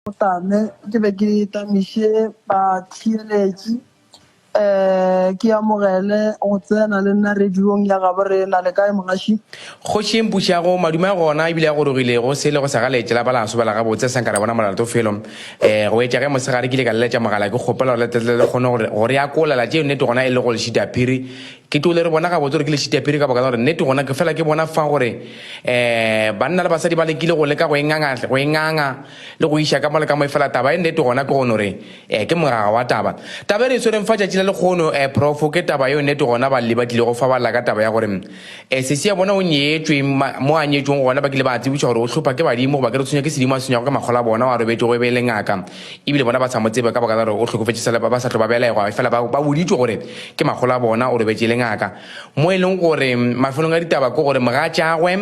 O tame ke be ke tamiše batheeletši um ke amogele go tsena le nna radiong ya gabo rena. Le kae mogaši? Kgoši Mpušago, madume a gona ebile a gorogile, go sele go sa ga leetše la ba la sobela gabotse sa nka ra bona molato felo. Um go etša ge mosegare ke ile ka leletša mogala ke kgopela gore le tle le kgone go re akolela tše nnete gona e le go lešitaphiri Ke too le re bona gabotse gore ke lešitiapiri ka boka la gore nnete gona ke fela ke bona fa gore um banna le basadi ba lekile go leka go e nganga, go e nganga le go iša ka mo le ka mo efela taba e nnete gona ke gone gore um ke mogaga wa taba. Taba e re e swereng fa tšatši la lekgono um profo ke taba yeo nnete gona balli ba tlilego fa ba lla ka taba ya gore um sesi ya bona o nyetšwe ma, mo a nyetšweng gona ba kile ba a tsebišwa gore o hlopha ke badimo goba ke re tshwenywa ke sedimo a tshwenywago ke makgola bona wa robetšego e be e le ngaka Ebile bona ba sa mo tsebe ka baka la gore o hlokofetše sela ba ba sa tlo ba belegwa, efela ba, ba boditšwe gore ke makgolo a bona, o robetše le ngaka. Mo e leng gore mafelong a ditaba ke gore mogatšagwe,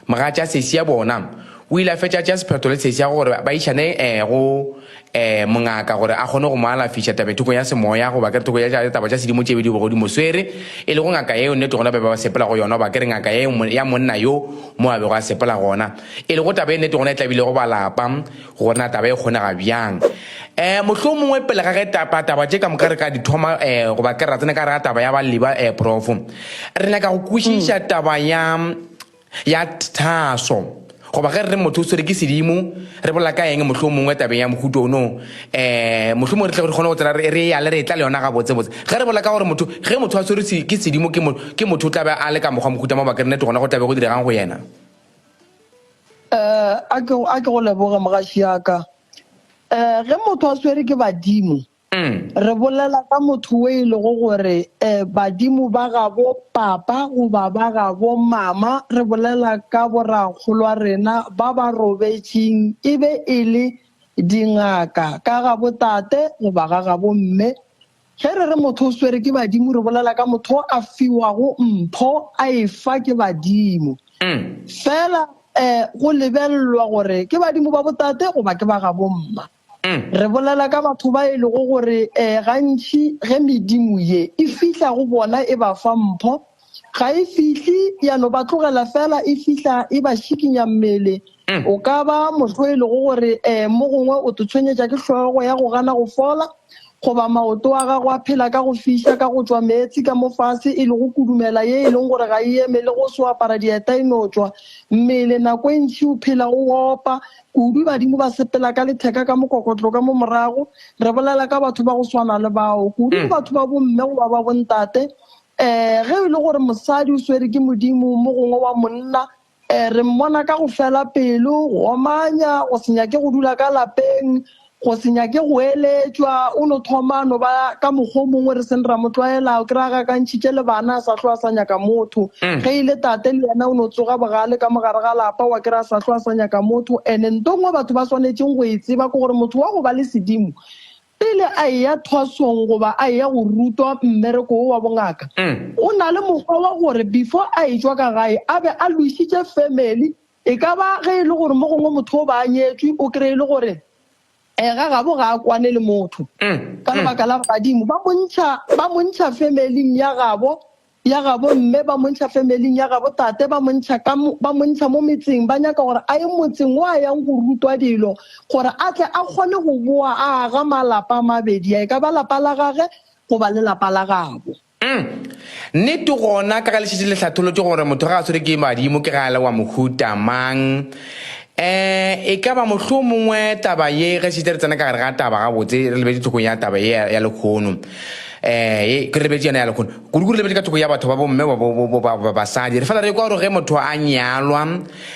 mogatša sesi ya bona, o ile a fetša a tšea sephetho le sesi ya gore ba išane eh, go eh, mongaka gore a kgone go mo alafiša tabethokong ya semoya goba ke re thoko ya tša taba tša sedimo tše be di bego di mo swere, e lego ngaka yeo nnete gona ba be ba sepela go yona goba ke re ngaka yeo ya monna yo mo a bego a sepela gona. E lego taba e nnete gona e tlabilego ba lapa. Go na taba e kgonega byang? E, mohlomongwe pele ga ge taba, taba tše ka moka re ka di thoma, e, goba ke ra tsene ka rega taba ya baliba, e, profo. Re nyaka go kwešiša mm. taba ya, ya thaso. Goba ge re re motho o swere ke sedimo, re bolela ka eng mohlomongwe tabeng ya mohuto ono? E, mohlomongwe re tle re kgone go tsela re, re yale re etla le yona ga botsebotse. Ge re bolela ka gore motho, ge motho a swere ke sedimo ke, mo, ke motho o tlabe a le ka mokgwa mohuta mo bakere nnete gona go tlabe go diregang go yena. Eh, a ke go- a ke go leboge mogaši yaka eh ge motho a swere ke badimo Mm. re bolela ka motho o e lego gore eh badimo ba gabo papa goba ba gabo mama re bolela ka borakgolwa rena ba ba robetšeng e be e le dingaka ka gabo tate goba ga gabo mme Ge re re motho o swere ke badimo, re bolela ka motho o a fiwago mpho a e fa ke badimo. Fela um go lebellwa gore ke badimo ba botate goba ke ba gabomma. Re bolela ka batho ba e lego gore um gantši ge medimo ye e fihla go bona e ba fa mpho, Ga e fihle ya no ba tlogela fela e fihla e ba šikinya mmele. O ka ba motho o e lego gore um mo gongwe o totshwenyetša ke hlogo ya go gana go fola goba maoto a gago a phela ka go fiša ka go tšwa meetse ka mo fase e lego kudumela ye e leng gore ga e eme le go se o apara dieta e no tšwa mmele nako e ntši o phela o opa kudu badimo ba sepela ka letheka ka mokokotlo ka mo morago re bolela ka batho ba go swana le bao kudu batho ba bomme goba ba bontate Ee, ge e le gore mosadi o swere ke modimo mo gongwe wa monna, ee, re mmona ka go fela pelo, go omanya, go se nyake go dula ka lapeng, go se nyake go eletšwa, o no thoma no ba ka mokgwa o mongwe re seng ra mo tlwaela, o kry-a gakantšhitše le bana a sa hlo a sa nyaka motho. Mm. Ge e le tate le yena o no tsoga bogale ka mogare ga lapa wa kry-a sa hlo a sa nyaka motho. And-e nto nngwe batho ba swanetšeng go e tseba ke gore motho wa go ba le sedimo Pele a eya thwasong goba a eya go rutwa mmereko wo wa bongaka, o na le mokgwa wa gore before a etšwa ka gae a be a lwešitše family. E ka ba ge e le gore mo gongwe motho o ba a nyetšwe, o kry-e e le gore um ga gabo ga a kwane le motho ka lebaka la gore badimo ba mo ntšha, ba mo ntšha family-ing ya gabo ya gabo mme ba montšha femeling ya gabo tate ba montšha ka ba montšha mo metseng ba nyaka gore a ye motseng wa yang go rutwa dilo gore a tle a kgone go boa a aga malapa a mabedi ya e ka ba lapa la gage go ba le lapa la gabo Mm. Nnete gona ka ge lešetše le hlatholotše gore motho ga a swere ke badimo ke ge a le wa mohuta mang. Eh, e ka ba mohloo mongwe taba ye ge šetše re tsena ka gare ga taba gabotse re lebetše tlhokong ya taba ye ya, ya lekgono. Eh, ye, re lebetše yona ya lekgono. Kudu-kudu lebetše ka thoko ya batho ba bomme ba bo bo ba ba basadi. Re fela re kwa gore ge motho a nyalwa,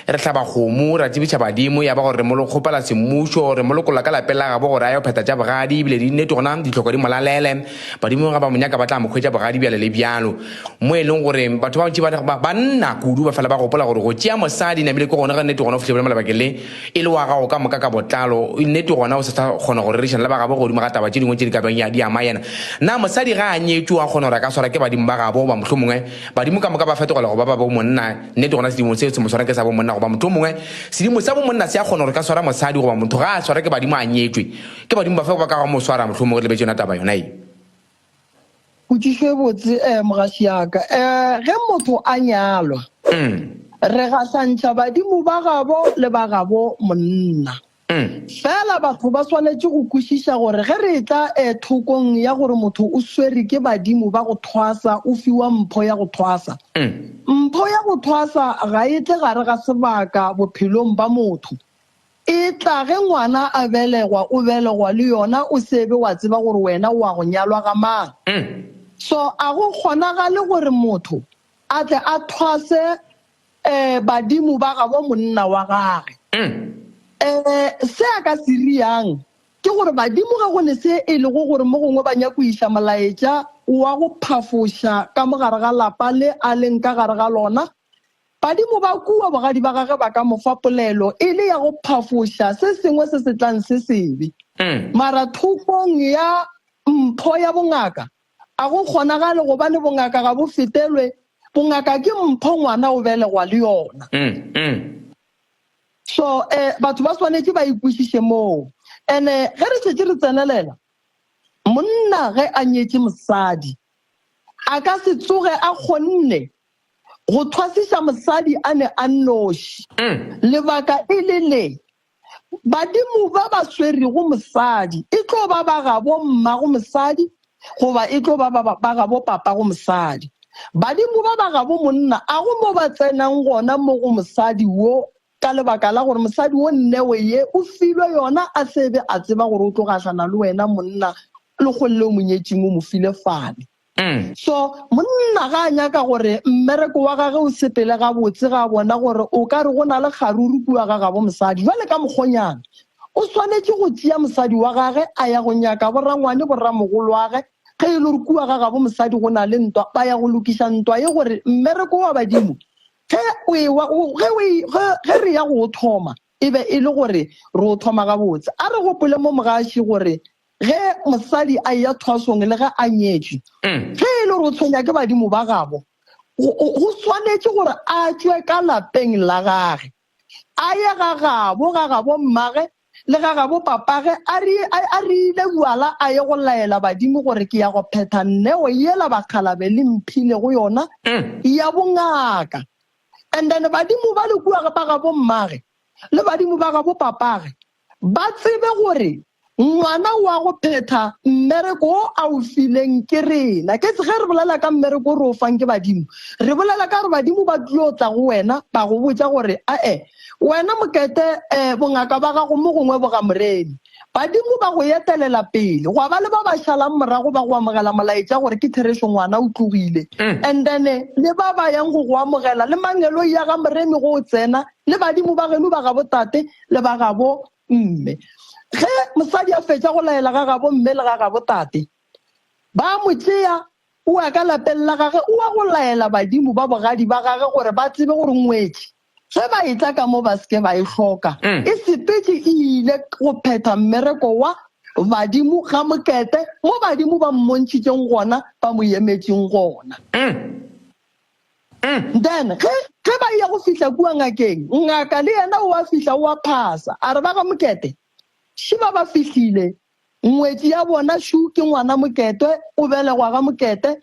re hlaba kgomo, ra tsebiša badimo, ya ba gore re mo lo kgopela semmušo, re mo lokolla ka lapeng la gabo gore a yo phetha tša bogadi, ebile di nnete gona dihloko di mo lalele. Badimo ge ba mo nyaka ba tla mo hwetša bogadi bjalo le bjalo. Mo e leng gore batho ba bantši ba, ba, banna kudu ba fela ba gopola gore go tšea mosadi namile ke gona ga nnete gona o fihla bjale mo lebakeng le e le wa gago ka moka ka botlalo, nnete gona o se sa kgona go rerišana le ba gabo godimo ga taba tše dingwe tše di ka bjang ya di ama yena. Na mosadi ga a nyetšwe o a kgona gore a ka swarwa ke badimo ba gabo goba mohlomongwe badimo ka moka ba fetogela go ba ba bomonna? Nnete gona sedimo seo se mo swara ke sa bomonna goba mohlomongwe sedimo sa bomonna se a kgona gore ka swara mosadi goba motho ga a swarwa ke badimo a nyetšwe. Ke badimo bafe ba ka go mo swara mohlomongwe re lebetše yona taba yona ye? potšišo e botse um mogasi yaka um ge motho a nyalwa mm. re gahlantšha badimo ba gabo le ba gabo monna mm. fela batho ba swanetše go kwešiša gore ge re tla um thokong ya gore motho o swere ke badimo ba go thwasa o fiwa mpho ya go thwasa mm. mpho ya go thwasa ga e tle gare ga sebaka bophelong ba motho E tla ge ngwana a belegwa, o belegwa le yona, o se be wa tseba gore wena o a go nyalwa ga mang. So a go kgonagale gore motho a tle a thwase um badimo ba gabo monna wa gage? Um se a ka se riang ke gore badimo ge go ne se e lego gore mo gongwe ba nyako iša molaetša wa go phafoša ka mo gare ga lapa le a leng ka gare ga lona, Badimo ba kua bogadi ba gage ba ka mo fa polelo e le ya go phafoša se sengwe se se tlang se sebe. Mara thokong ya mpho ya bongaka, a go kgonagale gobane bongaka ga bo fetelwe. Bongaka ke mpho ngwana o belegwa le yona. So um batho ba swanetše ba e kwešiše moo. And-e ge re šetše re tsenelela, monna ge a nyetše mosadi, a ka se tsoge a kgonne go thwasiša mosadi a ne a nnoši. Lebaka e le le, Badimo ba ba swerego mosadi e tlo ba ba gabo mmago mosadi goba e tlo ba ba gabo papago mosadi. Badimo ba ba gabo monna a go mo ba tsenang gona mo go mosadi wo ka lebaka la gore mosadi wo nnewe ye o filwe yona a se be a tseba gore o tlo gahlana le wena monna, Lekgong leo Monyetšing o mo file fane. Mm. So monna ga a nyaka gore mmereko wa gage o sepele gabotse ga a bona gore o ka re go na le kgaruru kua ga gabo mosadi jwale ka mokgonyana o swanetše go tšea mosadi wa gage a ya go nyaka borangwane borramogolo wage ge e le gore kua ga gabo mosadi go na le ntwa ba ya go lokiša ntwa ye gore mmereko wa badimo ge o ewa- o- ge o e- ge- ge re ya go o thoma e be e le gore re o thoma gabotse a re gopole mo mogaši gore Ge mosadi a eya thwasong le ge a nyetšwe, ge e le gore o tshwenya ke badimo ba gabo, go swanetše gore a tšwe ka lapeng la gage, a ye ga gabo, ga gabo mmage le ga gabo papage, a re a rile bjala a ye go laela badimo gore ke ya go phetha neo yela bakgalabe le mphilego yona ya bongaka. And then badimo ba le kua ba gabo mmage le badimo ba gabo papage Ba tsebe gore Ngwana o a go phetha mmereko wo a o fileng ke rena. Ke ge re bolela ka mmereko o re o fang ke badimo, re bolela ka gore badimo ba tlilo tla go wena ba go botša gore, A-e, wena Mokete, um bongaka ba gago mo gongwe bo ga Moremi. Badimo ba go etelela pele. Gwa ba le ba ba šalang morago ba go amogela molaetša gore ke therešo ngwana o tlogile. And then le ba ba yang go go amogela, le mangeloi ya ga Moremi go o tsena, le badimo ba geno ba gabotate, le ba gabo mme. Ge mosadi a fetša go laela ga gabo mme le ga gabo tate, ba mo tšea o wa ka lapeng la gage, o wa go laela badimo ba bogadi ba gage gore ba tsebe gore ngwetši ge ba e tla ka mo ba seke ba e hloka. Mm. E sepetše e ile go phetha mmereko wa badimo ga mokete mo badimo ba mmontšhitšeng gona ba mo yemetšeng gona. Mm. Then ge ge ba ya go fihla kua ngakeng, ngaka le yena o a fihla o a phasa. A re ba ga Mokete, Šiba ba fihlile, ngwetši ya bona Shu ke ngwana Moketwe, o belegwa ga Mokete.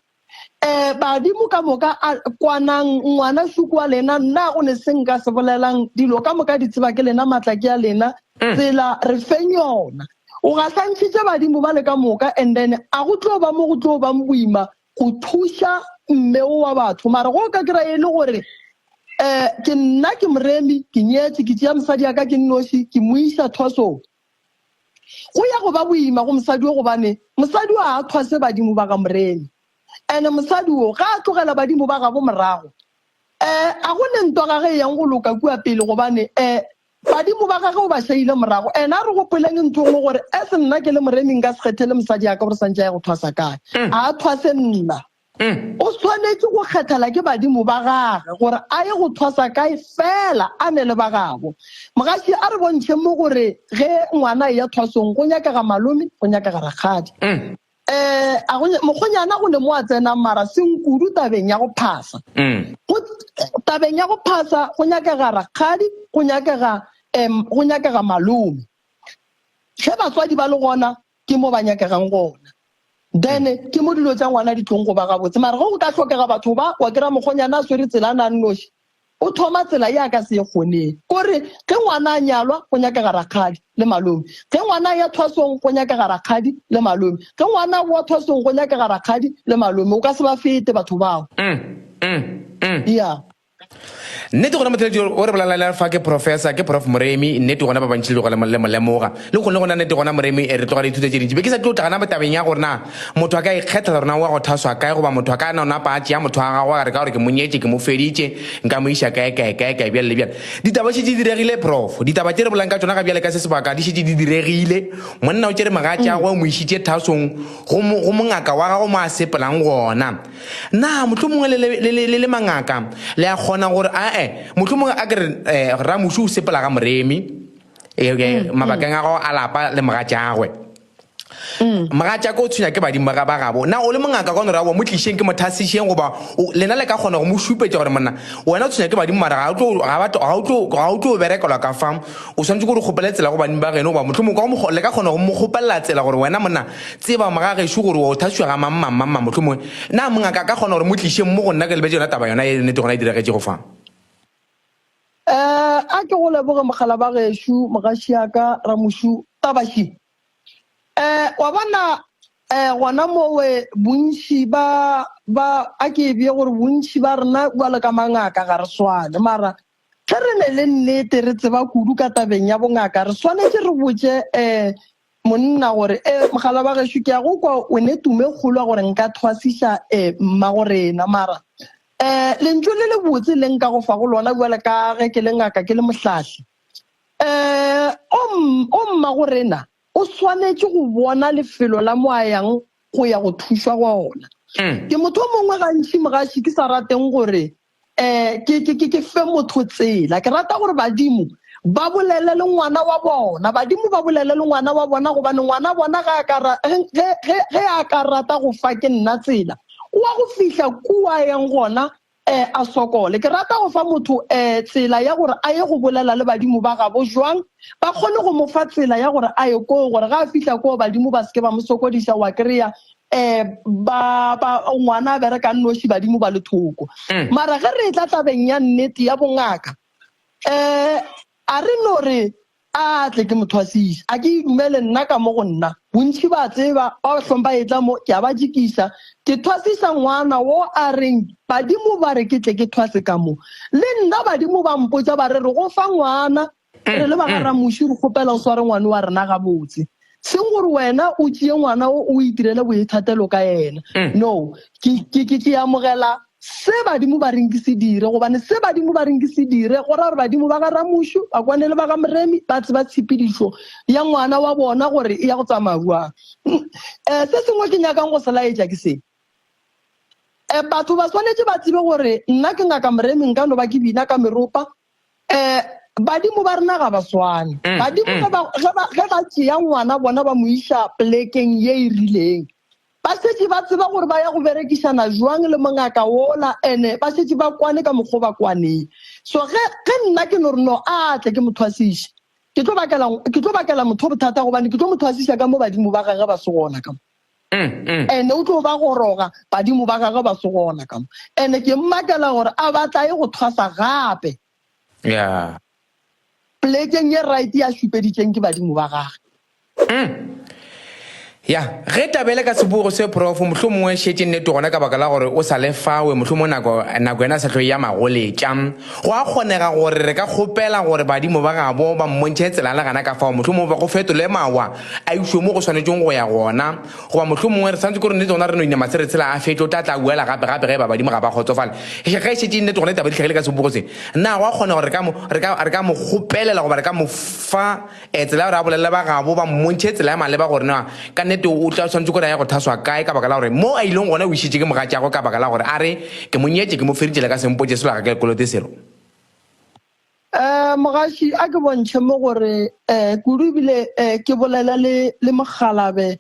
Eh, badimo ka moka a kwanang, ngwana Shu ke wa lena, nna go ne se nka se bolelang, dilo ka moka di tseba ke lena, matla ke a lena, tsela re feng yona. O gahlantšhitše badimo ba le ka moka and then a go tlo ba mo go tlo bang boima go thuša mme o wa batho mara go ka kry e le gore um ke nna ke moremi ke nyetse ke tšea mosadi ya ka ke nnoši ke mo iša thwasong go ya go ba boima go mosadi o gobane mosadi o a thwase badimo ba ga moremi and-e mosadi o ga a tlogela badimo ba gabo morago um a go ne ntwa ga ge e yang go loka kua pele gobane um Badimo ba gage o ba šaile morago. Ena a re gopoleng ntho nngwe gore, as nna ke le moremi nka se kgethele mosadi ya ka gore santše a ye go thwasa kae. Mm. A a thwase nna. Mm. O swanetše go kgethela ke badimo ba gage gore a ye go thwasa kae fela a ne le ba gabo. Mogaši a re bontšhe mo gore ge ngwana e ya thwasong go nyakega malome, go nyakega rakgadi. Mm. Eh, a go mokgonyana go ne mo a tsena mara senkudu tabeng ya go phasa mm. go tabeng ya go phasa go nyakega rakgadi go nyakega um go nyakega malome ge batswadi ba le gona ke mo ba nyakegang gona then ke mo dilo tsa ngwana di tlong go ba gabotse mara go go ka tlhokega batho ba wa kry-a mokgonyana a swere tsela a nang noši O thoma tsela ye a ka se e kgoneng. O re, Ge ngwana a nyalwa, go nyakega rakgadi le malome. Ge ngwana a ya thwasong, go nyakega rakgadi le malome. Ge ngwana a boa thwasong, go nyakega rakgadi le malome. O ka se ba fete batho bao. Ya. Nnete gona Motheledi o re bolalelela fa ke Professor, ke Prof Moremi, nnete gona ba bantši le tloga le mo lemoga. Le nkgonne gona nnete gona Moremi, re tloga re ithuta tše dintši. Be ke sa tlo tla gana tabeng ya gore na. Motho a ka ikgethela gore na o ya go thaswa kae, goba motho a ka no napa a tšea motho wa gagwe a re ka gore ke mo nyetše, ke mo feditše, nka mo iša kae, kae, kae, kae, bjale le bjale. Ditaba šetše di diregile, Prof. Ditaba tše re bolang ka tšona ga bjale ka se sebaka di šetše di diregile. Monna o tšere mogatšagwe, o mo išitše thasong, go, go mongaka wa gagwe mo a sepelang gona. Na mohlomongwe le, le, le, le, le mangaka le a kgona gore, a-e, mohlomongwe a ke re, eh, Ramuši o sepela ga Moremi, eh, eh, mabakeng a gago a lapa le mogatšagwe. Mm. mogatšaka o tshwenya ke badimo ba ba gabo na o le mongaka ka nora wa mo tlišeng ke mothasišeng goba lena le ka kgona go mo šupetša gore monna wena o tshwenya ke badimo mara ga o tlo berekelwa ka fa o swanetse gore kgopele tsela go badimo ba geno goba motlho mongwe le ka kgona go mo kgopelela tsela gore wena monna tseba mogagešo gore wa o thasiwa ga mammamamma motlho mongwe na mongaka ka kgona gore mo tlišeng mo go nna ke lebetse yona taba yona e nete gona e diregetšego fa Eh, a ke go leboge mogala ba gešo, mogaši yaka, ramošu, tabaši. Eh, wa bona, eh, gona mowe bontši ba, ba, a ke e bje gore bontši ba rena kua le ka mangaka ga re swane, mara ge re ne le nnete re tseba kudu ka tabeng ya bongaka re swanetše re botše eh, Monna gore, E, mogala wa gešo, ke a go kwa o ne tumo e kgolwa gore nka thwasiša e mmagorena, mara e lentšu le le botse le nka go fa go lona bjale ka ge ke le ngaka ke le mohlahli. E, o, o mmagorena, o swanetše go bona lefelo la mo a yang go ya go thušwa gona. Ke motho o mongwe gantši mogaši ke sa rateng gore um ke, ke, ke, ke fe motho tsela ke rata gore badimo ba bolele le ngwana wa bona badimo ba bolele le ngwana wa bona gobane ngwana bona ge a ka ra- ge- ge ge- ge a ka rata go fa ke nna tsela o wa go fihla kua yeng gona um a sokole ke rata go fa motho um tsela ya gore a ye go bolela le badimo ba gabo jwang ba kgone go mo fa tsela ya gore a ye koo gore ga a fihla koo badimo ba seke ba mo sokodisa wa kry-a Eh, ba ba ngwana a bereka nnoši badimo ba le thoko mm. mara ge re e tla tabeng ya nnete ya bongaka eh a re no re a tle ke mothwasisa a ke e dumele nna ka mo go nna bontšhi ba tseba ba bahlong ba etla mo ke a ba jekisa ke thwasisa ngwana wo a reng badimo ba re ke tle ke thwase ka mo le nna badimo ba mpotsa ba re re go fa ngwana re le ba ga ramuši re kgopela o sware ngwane wa rena gabotse seng gore wena o tšee ngwana o o itirele boithatelo ka ena no ke ke- ke- ke amogela se badimo ba reng ke se dire gobane se badimo ba reng ke se dire go ra gore badimo ba ga ramušu ba kwane le ba ga moremi ba tseba tshepedišo ya ngwana wa bona gore e ya go tsamaya jwang um se sengwe ke nyakang go se laetša ke se um batho ba swanetše ba tsebe gore nna ke ngaka moremi nka no ba ke bina ka meropa um badimo ba rena ga ba swane mm, badimo mm. ge ba tšea ngwana bona ba mo iša polekeng ye e rileng ba šetše ba tseba gore ba ya go berekišana jwang le mongaka wola ene ba šetše ba kwane ka mokgwa ba kwaneng so ge nna ke no re no a tle ke mo thwasiše ke tlo bakela motho bothata gobane ke tlo mo thwasiša ka mo badimo ba gage ba se gona ka mo Ene o tlo ba goroga, badimo ba gagwe ba se gona ka mo. Ene ke mmakela gore a ba tlae go thwasa gape. Polekeng ye right ya šupeditšeng ke badimo ba gage. Ya, ge taba e le ka sebogo se, Profo, mohlomongwe e šetše nnete gona ka baka la gore o sa le fawe, mohlomongwe nako, nako yena e sa tlo eya magoletša. Go a kgonega gore re ka kgopela gore badimo ba gabo ba mmontšhe tsela le gana ka fao, mohlomongwe ba go fetole mawa, a išwe mo go swanetšeng go ya gona, goba mohlomongwe re santse ke gore nnete gona re no inama se re tshela a fetlo, o tla tla a buela gape gape ge e ba badimo ga ba kgotsofale. Ge e šetše e nnete gona ditaba di hlagile ka sebogo se, na go a kgona gore re ka mo, re ka, re ka mo kgopelela goba re ka mo fa eh, tsela ya gore a bolelele ba gabo ba mmontšhe tsela ya maleba gore na ka nnete o tla swanetše gore a ye go thaswa kae ka baka la gore mo a ileng gona o išitše ke mogatšagwe ka baka la gore a re, Ke mo nyetše, ke mo feritše le ka sempotše selo ga ke le kolote selo. Um mogaši a ke bontšhe mo gore um kudu ebile um ke bolela le le mokgalabe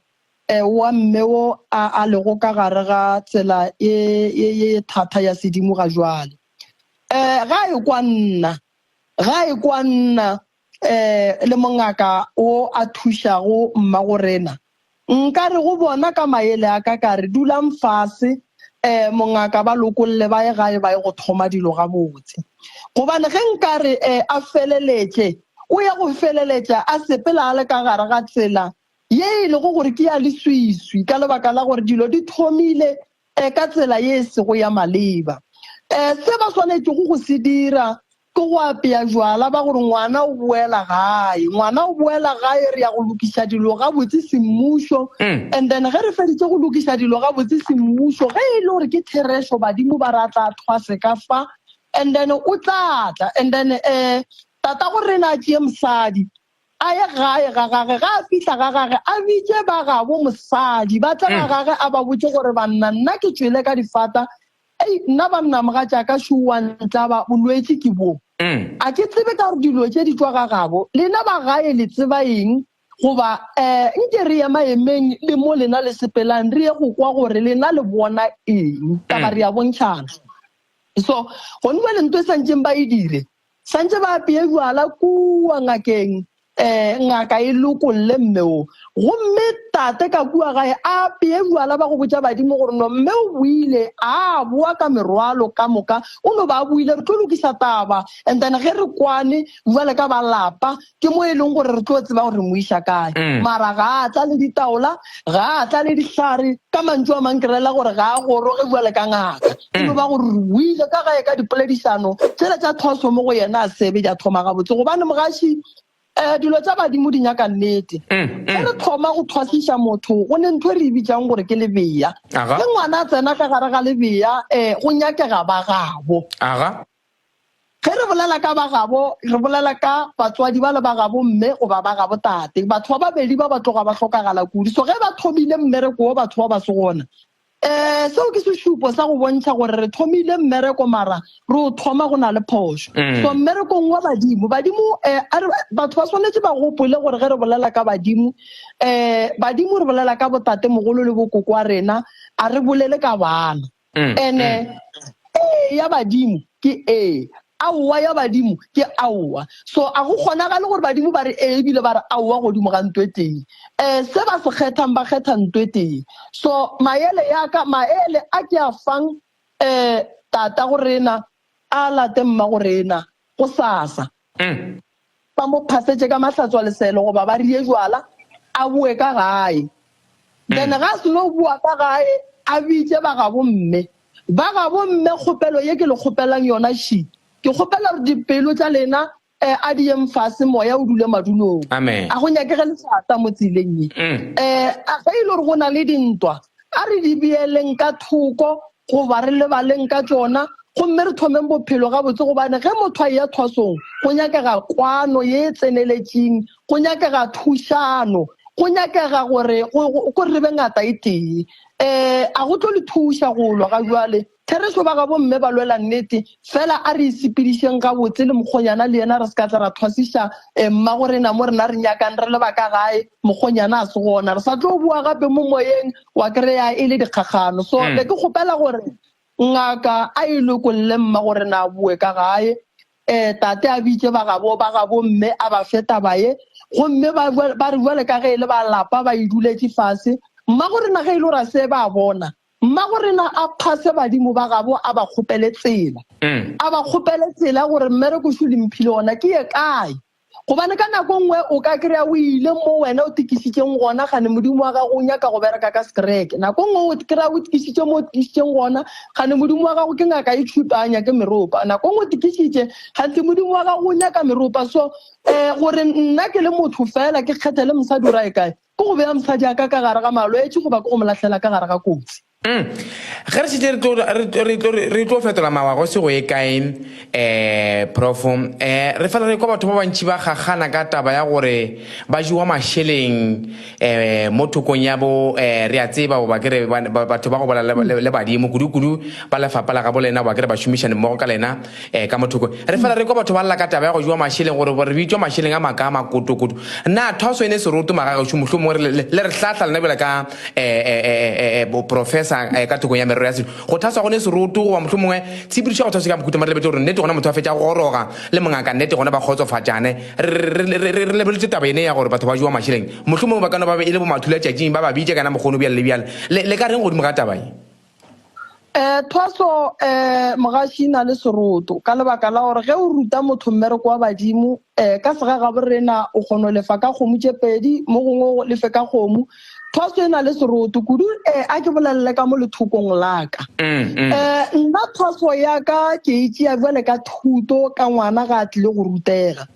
um wa mme wo a a lego ka gare ga tsela ye ye ye thatha ya sedimo ga jwale um ga e kwa nna ga e kwa nna um le mongaka wo a thušago mmagorena Nka re go bona ka mayele a ka ka re, Dulang fase, um, mongaka, ba lokolle, ba ye gae, ba ye go thoma dilo gabotse. Gobane ge nka re, um, a feleletše, o ya go feleletša a sepela a le ka gare ga tsela ye e lego gore ke ya leswiswi, ka lebaka la gore dilo di thomile um ka tsela ye e sego ya maleba. Um Se ba swanetšego go se dira Ke go apea jwala ba gore ngwana o boela gae, ngwana o boela gae, re ya go lokiša dilo gabotse semmušo. And then ge re feditse go lokiša dilo gabotse semmušo, ge e le gore ke therešo, badimo ba re a tla thwa se ka fa, and then o tla tla, and then um tata go rena a tšee mosadi a ye gae ga gage, ga a fihla ga gage a bitše ba gabo mosadi ba tle ga gage a ba botše gore banna nna ke tšwele ka difata Ei, nna banna mogatšaka šuu wa ntlaba, bolwetši ke boo. A ke tsebe ka gore dilo tše di tšwa ga gabo. Lena ba gae le tseba eng? Goba um nke re ye maemeng le mo lena le sepelang re ye go kwa gore lena le bona eng, taba re a bontšhana. So, gone bjale nto e sa ntšeng ba e dire. Santše ba apee jwala kua ngakeng, ee, ngaka e lokolle mme wo. Gomme tate ka kua gae a apee jwala, ba go botša badimo gore no mme o boile, a boa ka merwalo ka moka, o no ba a boile, re tlo lokisa taba, and then ge re kwane jwale ka ba lapa, ke mo e leng gore re tlo tseba gore mo iša kae mm. mara ga a tla le ditaola ga a tla le dihlare ka mantšu a mang kerela gore ga a goroge bua le ka ngaka e mm. no ba gore o ile ka gae ka dipoledišano tsela tsa thoso mo go yena a sebe ja thoma gabotse gobane mogaši um dilo tsa badimo di nyaka nnete mm, e re thoma go thwasiša motho go ne ntho e re e bitsang gore ke lebeya le ngwana a tsena ka gare ga lebeya um go nyakega ba gabo Ge re bolela ka ba gabo, re bolela ka batswadi bale ba gabo mme goba ba gabo tate. Batho ba babedi ba ba tloga ba hlokagala kudu. So ge ba thomile mmereko wo batho ba ba se gona, um seo ke sešupo sa go bontšha gore re thomile mmereko mara re o thoma go na le phošo. So mmerekong wa badimo, badimo um batho ba swanetše ba gopole gore ge re bolela ka badimo, um badimo re bolela ka botatemogolo le bokoko wa rena, a re bolele ka bana. mm, ene mm. ee ya badimo ke ee aowa ya badimo ke aowa so a go kgonagale gore badimo ba re ee ebile ba re aowa godimo ga nto e tee um se ba se kgethang ba kgetha nto e tee so maele yaka maele a ke a fang um tata go rena a late mma go rena go sasa Uhm. Ba mo phasetše ka mahlatswa leselo goba ba rie jwala a boe ka gae. Then ga a seno boa ka gae a bitše ba gabo mme. Ba gabo mme kgopelo ye ke le kgopelang yona she, ke kgopela gore dipelo tša lena eh a di yeng fase moya o dule madulong. Amen. A go nyakege lefata mo tseleng ye. Eh a ge e le gore go na le dintwa a re di beeleng ka thoko Goba re lebaleng ka tšona gomme re thomeng bophelo gabotse, gobane ge motho a eya thwasong, go nyakega kwano ye e tseneletšeng, go nyakega thušano, go nyakega gore gore re be ngata e tee. Um a go tlo le thuša go lwa ga bjale. Therešo ba ga bomme ba lwela nnete. Fela a re e sepedišeng gabotse le mokgonyana le yena re se ka tla ra thwasiša um mmagorena mo rena re nyakang re leba ka gae. mokgonyana a se gona re sa tlo bua gape mo moyeng wa kry-a e le dikgakgano so mm. be ke kgopela gore ngaka a e lokolle mma gore na bue ka gae um tate a bitse ba gabo ba gabo mme a ba fe taba ye gomme ba re jale ka ge e le ba lapa ba e duletse fase mma gore na ge e le gore a se ba bona mma gore na a phase badimo ba gabo a ba kgopele tsela mm. a ba kgopele tsela gore mmereko sho le mphile ona ke ye kae Gobane ka nako nngwe o ka kry-a o ile mo wena o tikišitšeng gona, gane modimo wa gago o nyaka go bereka ka sekereke. Nako nngwe o kry-a o tikišitše mo o tikišitšeng gona, gane modimo wa gago ke ngaka e tšhupa, a nyake meropa. Nako nngwe o tikišitše, ganthe modimo wa gago o nyaka meropa. So um gore nna ke le motho fela, ke kgethe le mosadi o ra e kae? Ke go bea mosadi a ka ka gare ga malwetši goba ke go mo lahlela ka gare ga kotsi? Umm ge re šetše re tlo fetola mawa go se go ye kae um prof um re fela re kwa batho ba bantši ba kgakgana ka taba ya gore ba jewa mašeleng um mo thokong ya bo um re a tseba goba ke re batho ba go bola le badimo kudu-kudu ba lefapa la gabo lena goba ke re bašomišanimmogo ka lena Ee, ka mo thoko. Re fela re kwa batho ba lla ka taba ya go jewa mašeleng gore bo re bitšwa mašeleng a makaa a makotokoto. Na thwaso e ne e se roto magagešo mohlomongwe re le, le re hlahla lena bjale ka eh, eh, eh, eh, eh, boprofesa eh, ka thokong ya merero ya setšo? Go thaswa go ne se roto goba mohlomongwe tshepedišo ya go thaswa ke ya bokhuta mare lebetše gore nnete gona motho a fetša go goroga le mongaka nnete gona ba kgotsofatšane. Re, re, re, re, re, re lebeletše taba yene ya gore batho ba jewa mašeleng. Mohlomongwe ba ka no ba be e le bomathulatšatšing ba ba bitša kana mokgono bjale le bjale. Le, le ka reng godimo ga taba ye? um thwaso um mogaši e na le seroto ka lebaka la gore ge o ruta motho mmereko wa badimo um ka sega gaborena o kgono lefa ka kgomo tše pedi mo gongwe o lefe ka kgomo thwaso e na le seroto kudu um a ke bolelele ka mo lethokong laka um nna thwaso yaka ke e tšea jale ka thuto ka ngwana ga a tlile go rutega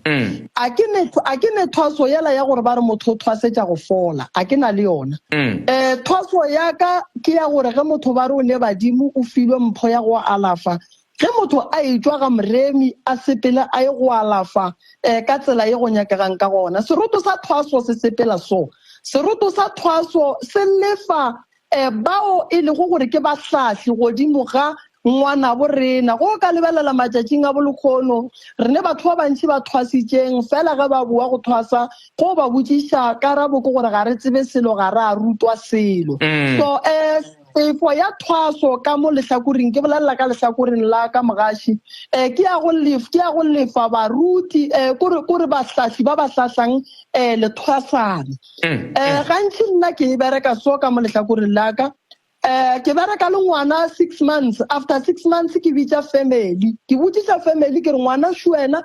A ke ne, a ke ne thwaso yela ya gore ba re motho o thwasetša go fola, a ke na le yona. E, thwaso ya ka ke ya gore ge motho ba re o ne badimo, o filwe mpho ya go alafa. Ge motho a etšwa ga moremi, a sepele a ye go alafa e, ka tsela ye go nyakegang ka gona. Seroto sa thwaso se sepela so. Seroto sa thwaso se lefa e, bao e lego gore ke bahlahli godimo ga ngwanabo rena. Go ka lebelela matšatšing a bolekgono, re ne batho ba bantši ba thwasitšeng, fela ge ba boa go thwasa, go ba botšiša, karabo ke gore ga re tsebe selo, ga re a rutwa selo. Mm. So, e, tefo ya thwaso ka mo lehlakoring ke bolelela ka lehlakoreng la ka mogaši um ke ya go lef ke ya go lefa baruti um kore kore bahlahli ba ba hlahlang um lethwasane um gantši nna ke e bereka so ka mo lehlakoreng la ka um ke bereka le ngwana six months after six months ke bitsa family ke botsisa family ke re ngwana šuena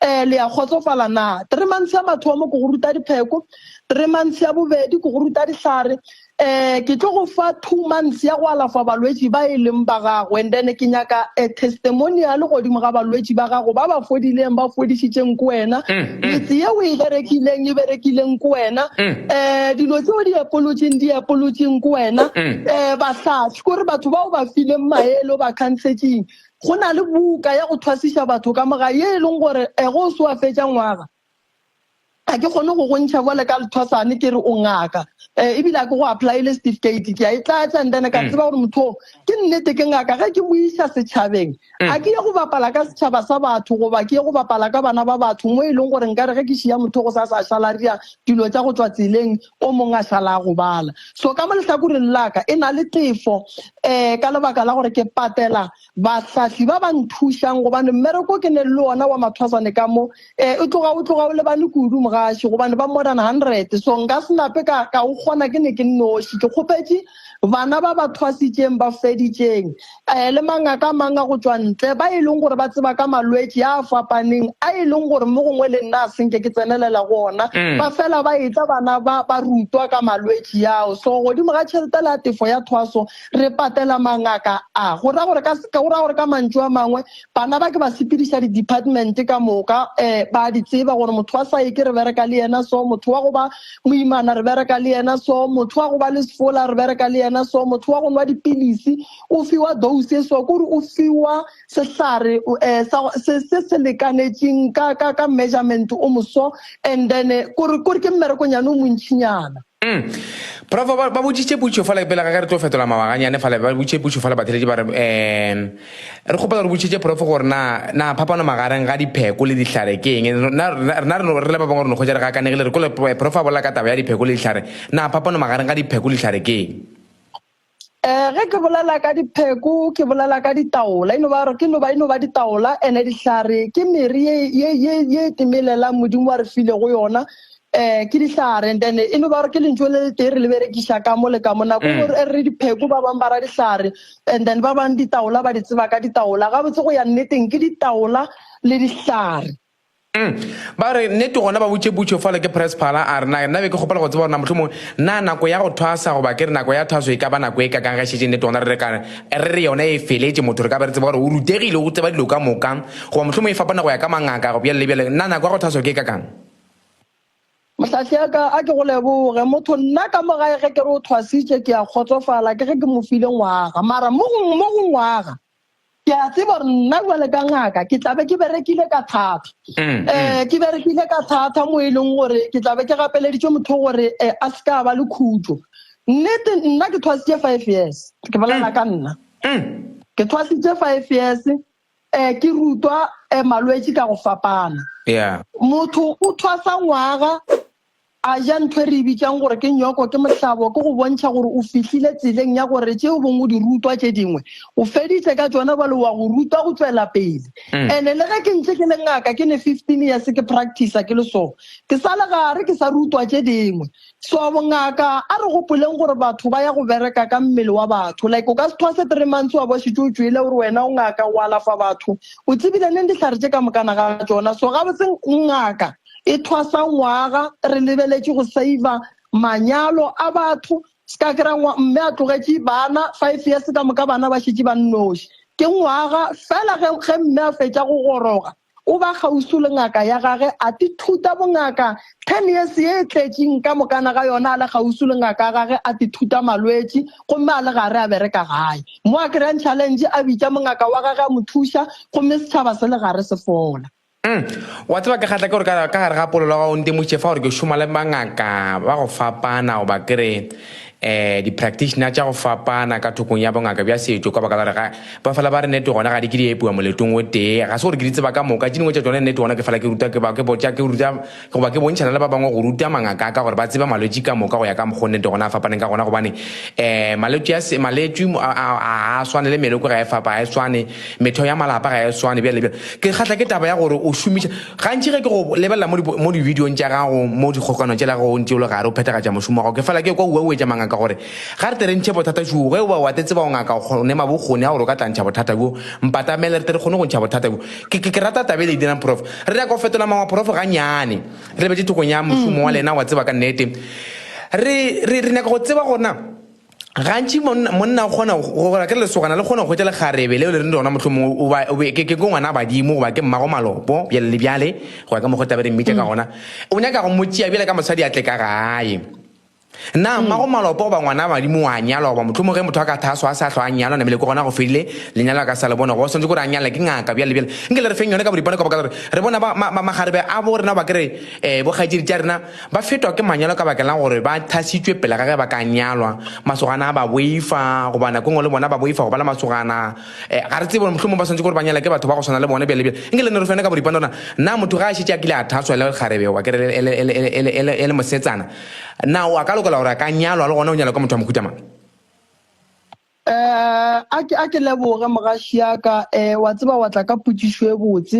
um le ya kgotsofala na three months ya mathomo ke go ruta dipheko three months ya bobedi ke go ruta dihlare um ke tlo go fa two months ya go alafa balwetši ba e leng ba gago and then ke nyaka a testimonial godimo ga balwetši ba gago ba ba fodileng ba fodišitšeng ko wena mm, mm. metse ye o e berekileng e berekileng ko wena um dilo tseo di epolotseng di epolotseng ko wena um bahlatswi kore batho bao ba fileng maele o ba kgantshetseng go na le buka ya go thwasiša batho ka moga ye e leng gore um go o se wa fetša ngwaga ga ke kgone go gontšha bole ka lethosane ke re o ngaka um ebile a ke go applyele certificate ke a e tlatsa and then ka mm. tseba gore motho ke nnete ke ngaka ge ke boisa setšhabeng mm. a ke ye go bapala ka setšhaba sa batho goba ke ye go bapala ka bana ba batho mo e leng gore nka re ge ke šia motho go sa sa šalaria dilo tsa go tswa tseleng o mongwe a šala a gobala so ka mo lehlakoreng laka e na le tefo um ka lebaka la gore ke patela bahlahli ba ba nthušang, gobane mmereko o ke neng le wona wa mathwasane ka mo, e, o tloga o tloga o lebane kudu, mogaši, gobane ba modern hundred, so nka se nape ka, ka o kgona ke ne ke nnoši. Ke kgopetše bana ba ba thwasitšeng, ba feditšeng, e, le mangaka a mang a go tšwa ntle, ba e leng gore ba tseba ka malwetši a a fapaneng, a e leng gore mo gongwe le nna a se nke ke tsenelela go ona, mm. ba fela ba etla bana ba, ba rutwa ka malwetši ao. So godimo ga tšheletela ya tefo ya thwaso, Re patela mangaka a, go ra gore ka, go ra gore ka mantšu a mangwe, bana ba ke ba sepediša di-department ka moka, um ba a di tseba gore motho wa saeke re bereka le yena so, motho wa go ba moimana re bereka le yena so, motho wa go ba le sefola re bereka le yena so, motho wa go nwa dipilisi o fiwa dose e so, kore o fiwa sehlare um se se se lekanetšeng ka, ka, ka measurement o moso, and then kore, kore ke mmerekonyane o montšhinyana. Mm. Profo ba, ba boditše putšo fale pele ga re tlo fetola mawaganyane fale ba boditše putšo fale batheletše ba re um re kgopela re botšitše profo gore na na phapano magareng ga dipheko le dihlare ke eng rena re le ba bangwe re no kgwetša re gakanegile re kole profo a bolela ka taba ya dipheko le dihlare na phapano magareng ga dipheko le dihlare ke eng Eh, ge ke bolela ka dipheko ke bolela ka ditaola eno ba re ke noba eno ba ditaola ene dihlare ke mere ye ye ye ye e temelelang modimo wa re file go yona eh ke dihlare and then e no ba re ke lentso le le tee re le berekisa ka mo le ka mo nako e re re dipheko ba bang ba ra dihlare and then ba bang ditaola ba di tseba ka ditaola gabotse go ya nneteng ke ditaola le dihlare Ba re, Nnete gona ba botše Butcho fale ke Presephala, a re, Na nna be ke kgopela go tseba gore na mohlomongwe na nako ya go thwasa goba ke re nako ya thwaso e ka ba nako e kakang ge e šetše nnete gona re re ka re re yona e feletše, motho re ka be re tseba gore o rutegile, o tseba dilo ka moka, goba mohlomongwe e fapana go ya ka mangaka, go bjalo le bjalo. Na nako ya go thwaso ke e kakang? Mohlahli ya ka, a ke go leboge, motho nna ka mo gae ge ke re o thwasitše, ke a kgotsofala, ke ge ke mo file ngwaga. Mara mo go, mo go ngwaga. ke a tseba gore nna jale ka ngaka ke tlabe ke berekile ka thata um ke berekile ka thata mo e leng gore ke tlabe ke gapeleditse motho gore eh, a se ka ba le khutso nnete nna ke thwasitse five years ke bolela ka nna ke thwasitse five years um ke rutwa um malwetse ka go fapana yeah motho o thwasa ngwaga A ja ntho e re e bitšang gore ke nyoko ke mohlabo, ke go bontšha gore o fihlile tseleng ya gore tše o bong o di rutwa tše dingwe o feditše ka tšona bjale wa go rutwa go tšwela pele. Ene le ge ke ntše ke le ngaka ke ne 15 years ke practicer ke le so, ke sa le gare ke sa rutwa tše dingwe. So bongaka a re gopoleng gore batho ba ya go bereka ka mmele wa batho like o ka se thwase three months wa bo šetše o tšwele o re wena o ngaka o alafa batho o tsebile neng dihlare tše ka mokana ga tšona. So gabotse ngaka e thwasa ngwaga re lebeletše go saiva manyalo a batho ska kry mme a tlogetše bana five years ka moka bana ba šetše ba nnoši ke ngwaga fela ge ge mme a fetša go goroga o ba kgausu le ngaka ya gage a ti thuta bongaka ten years ye e tletšeng ka mokana ga yona a le kgausu le ngaka ya gage a ti thuta malwetši gomme a le gare a bereka gae mo a kry-ang challenge a bitša mongaka wa gage a mo thuša gomme setšhaba se le gare se fola Umm wa tseba ke kgatla ke gore ka ka gare ga polelo ga o ntemotše fa gore ke šoma le bangaka ba go fapana goba ke re um di-practitioner tša go fapana ka thokong ya bongaka bja setšo ka baka la gore ga ba fela ba re nete gona ga di ke di epiwa moletong o tee ga se gore ke di tseba ka moka tše dingwe tša tšone nete gona ke fela ke ruta ke ba ke botša ke ruta Goba ke bontšhana le ba bangwe go ruta mangaka a ka gore ba tseba malwetši ka moka go ya ka mokgo nnete gona a fapaneng ka gona gobane um malwetši a se maletšwi a a swane le meloko ga e fapa ga e swane metheo ya malapa ga e swane bjale bjale ke kgatla ke taba ya gore o šomiša gantši ge ke go lebelela mo mo divideong tša gago mo dikgokanong tšela go ntse o le gare o phethagatša mošomo wa gago ke fela ke kwa uauetša mangaka gore ga re tere ntšhe bothata šoo ge o ba wa te tseba o ngaka o kgone mabokgoni a gore o ka tlantšha bothata bjo mpatamele re tere kgone go ntšha bothata bjo Ke, ke, ke rata taba e le e dirang, Prof. Re nyaka go fetola mangwa, Prof, ganyane. Re bete thokong ya mošomo wa lena, wa tseba ka nnete. Re, re, re nyaka go tseba gore na gantši monna, monna o kgona go, gore ke lesogana le kgona go hwetša lekgarebe leo le reng lona mohlho mongwe o ba, o be, ke, ke, ke ngwana badimo goba ke mmago malopo, bjale le bjale, go ya ka mokgwa taba re mmitša ka gona. O nyaka go mo tšea bjale ka mosadi a tle ka gae. Na mm. mmago malopo goba ngwana wa madimo wa nyalwa goba motlhomo ge motho a ka thaso a se a tlho a nyalwa namele ke gona go fedile lenyalo a ka sa le bona go swantse kore a nyalala ke ngaka bjale bjale nke le re feng yone ka boripane ka baka gore re bona magarebe a bo rena ba kere um eh, bokgaitsedi tša rena ba fetwa ke manyalo ka bakelang gore ba thasitswe pele ga ge ba ka nyalwa masogana a ba boifa goba nako ngwe le bona ba boifa go ba le masogana um ga re tsebe gore motlhomo ba swantse gore ba nyala ke batho ba go tshwana le bone bjale bjale nke le ne re fene ka boripane rona na motho ga a šetse a kile a thaswa le kgarebe wa kere e le mosetsana Na o a ka lokela gore a ka nyalwa le gona o nyalwa ka motho wa mohuta mang? Eh, a ke a ke leboge mogaši ya ka eh wa tseba wa tla ka potšišo e botse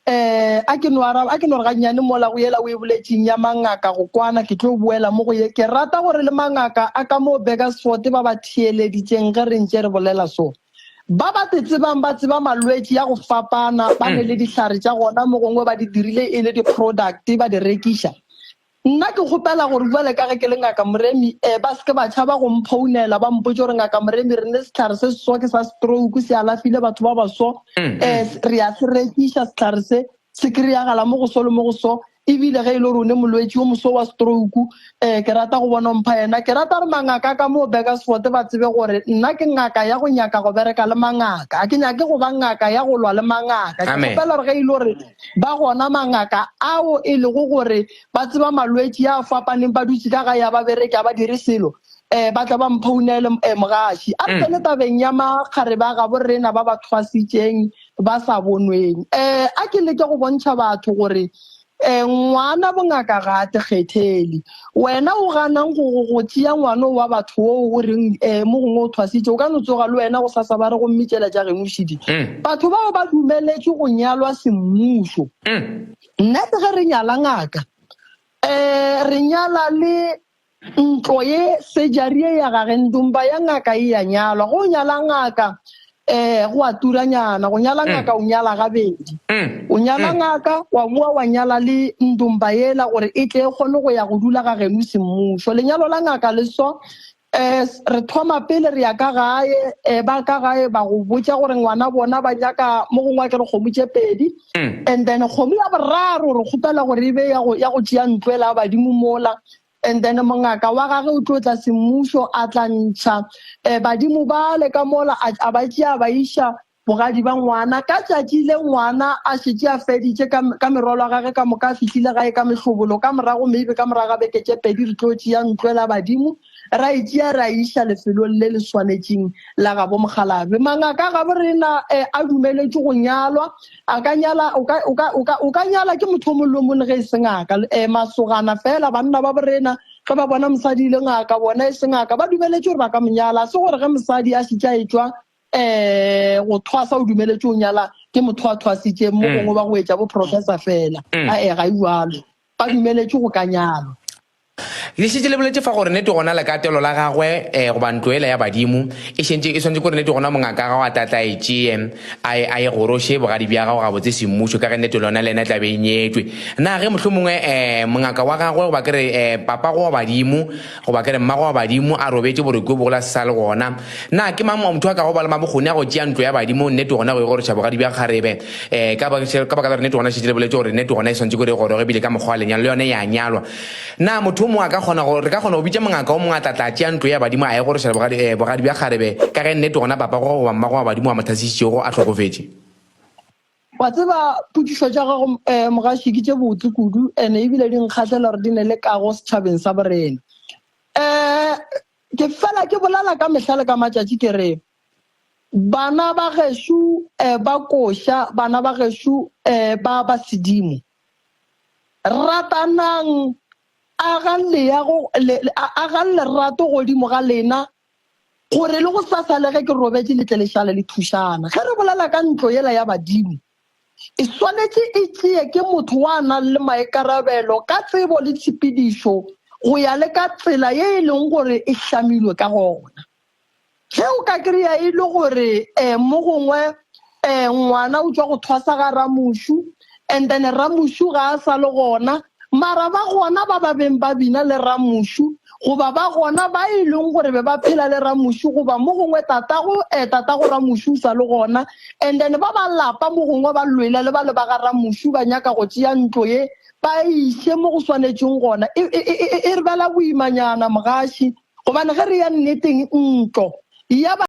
eh a ke no araba a ke no re gannyane mola go yela o e boletseng ya mangaka go kwana ke tlo boela mo go ye ke rata gore le mangaka a ka mo Bakersford ba ba theeleditseng ge re ntše re bolela so ba ba te tsebang ba tseba malwetši ya go fapana ba ne le dihlare tša gona mo gongwe ba di dirile e le di-product ba di rekiša Nna ke kgopela gore bjale ka ge ke le Ngaka Moremi eh, ba se ke ba tšhaba go mphounela ba mpotše gore Ngaka Moremi re ne sehlare se seso ke sa stroke se alafile batho ba baso eh, re a se rekiša sehlare se se kry-agala mo go so le mo go so ebile ge e le gore o ne molwetši yo moso wa stroke eh, ke rata go bona mpha yena ke rata re mangaka ka moo Bakersford ba tsebe gore nna ke ngaka ya go nyaka go bereka le mangaka a ke nyake go ba ngaka ya go lwa le mangaka ke Amen. kgopela gore ge e le gore ba gona mangaka ao e lego gore ba tseba malwetši a fapaneng ba dutše ka ga ya ba bereke a ba dire selo um ba tla ba mphounele um mogaši a re tsene tabeng ya makgare ba gabo rena ba ba thwasitšeng ba sa bonweng um a ke leke go bontšha batho gore um ngwana bongaka ga a tekgethele Wena o ganang go go go tšea ngwano wa batho wo o reng eh mo gongwe o thwasitše o ka no tsoga le wena go sa sa ba re go mmitšela ja geno šidi. Mm. Batho bao ba dumeletše go nyalwa semmušo. Mm. Nna se ge re nyala ngaka eh re nyala le ntlo ye sejarie ya ga gendumba ya ngaka e ya nyalwa go nyala ngaka ee go a turanyana go nyala ngaka o nyala gabedi o nyala ngaka wa boa wa nyala le ndumba yela gore e tle e kgone go ya go dula ga geno semmušo lenyalo la ngaka le so um re thoma pele re ya ka gae um ba ka gae ba go botsa gore ngwana bona ba nyaka mo gongwe a ke re kgomo tse pedi and then kgomo ya boraro re kgopela gore e be ya go tšea ntlo ela badimo mola And then mongaka wa gage o tlo tla semmušo a tla ntšha um badimo bale ka mola a, a ba tšea ba iša bogadi ba ngwana ka tšatši le ngwana a šetše a feditše ka, ka merwalo a gage ka moka a fihlile gae ka mehlobolo ka morago maybe ka morago ga beke tše pedi re tlo tšea ntlwe la badimo ra e tšea ra iša lefelong le le swanetšeng la gabo mokgalabe mangaka gabo rena um a dumeletše go nyalwa a ka nyala o ka o ka o ka o ka nyala ke motho o molomo le ge e sengaka eh masogana fela banna ba borena ge ba bona mosadi e le ngaka bona e sengaka ba dumeletše gore ba ka monyala se gore ge mosadi a šitša e tšwa eh go thwasa o dumeletše o nyala ke motho a thwasitšeng mo mm. gongwe ba go etša bo professor fela mm. a e ga iwalo Ba dumeletšwe go ka nyalwa. Le šetše le boletše fa gore nete gona lekatelo la gagwe, eh, goba ntlo yela ya badimo, e šentše e swanetše kore nete gona mongaka gago a tla tla e tšee, a e, a e goroše bogadi bja gago gabotse semmušo, ka ge nete lona le yena e tla be e nyetšwe. Na ge mohlomongwe, eh, mongaka wa gagwe, goba ke re, eh, papago wa badimo, Goba ke re mmago wa badimo a robetše borokwi o bogola se sa le gona. Na ke mang motho a kago ba le mabokgoni a go tšea ntlo ya badimo? Nnete gona go e goroša bogadi bja kgarebe. Ee, ka baka la gore nnete gona e šetše le boletše gore nnete gona e swantše gore e goroge ebile ka mokgwa wa lenyalo le yona e a nyalwa. Na motho o mongwe a ka kgona go, re ka kgona go bitša mongaka o mongwe a tla tla tšea ntlo ya badimo a e goroša bogadi, ee, bogadi bja kgarebe, ka ge nnete gona papago goba mmago wa badimo wa mo thasišitšego a hlokofetše? wa tseba pudišo tša gago um eh, mogaši ke tše botse kudu and ebile di nkgahlela gore di ne le kago setšhabeng sa borena um ke fela ke bolala ka mehla le ka matšatši ke re bana ba gešo um eh, ba koša bana ba gešo um eh, ba ba sedimo ratanang agang lerato godimo ga lena Gore le go sasa le ge ke robetše le tle le šale le thušana. Ge re bolela ka ntlo yela ya badimo, e swanetše e tšee ke motho wa nang le maikarabelo ka tsebo le tshepedišo go ya le ka tsela ye e leng gore e hlamilwe ka gona. Ge o ka kry-a e le gore um mo gongwe um ngwana o tšwa go thwasa ga ramošu, and then ramušu ga a sa le gona mara ba gona ba ba beng ba bina le ramušu goba ba gona ba e leng gore be ba phela le ramušu goba mo gongwe tatago um tatago ramušu o sa le gona and then ba ba lapa mo gongwe ba lwela le ba le ba ga ramušu ba nyaka go tšea ntlo ye ba iše mo go swanetšeng gona e, e, e, e re bela boimanyana mogaši gobane ge re ya nneteng ntlo ya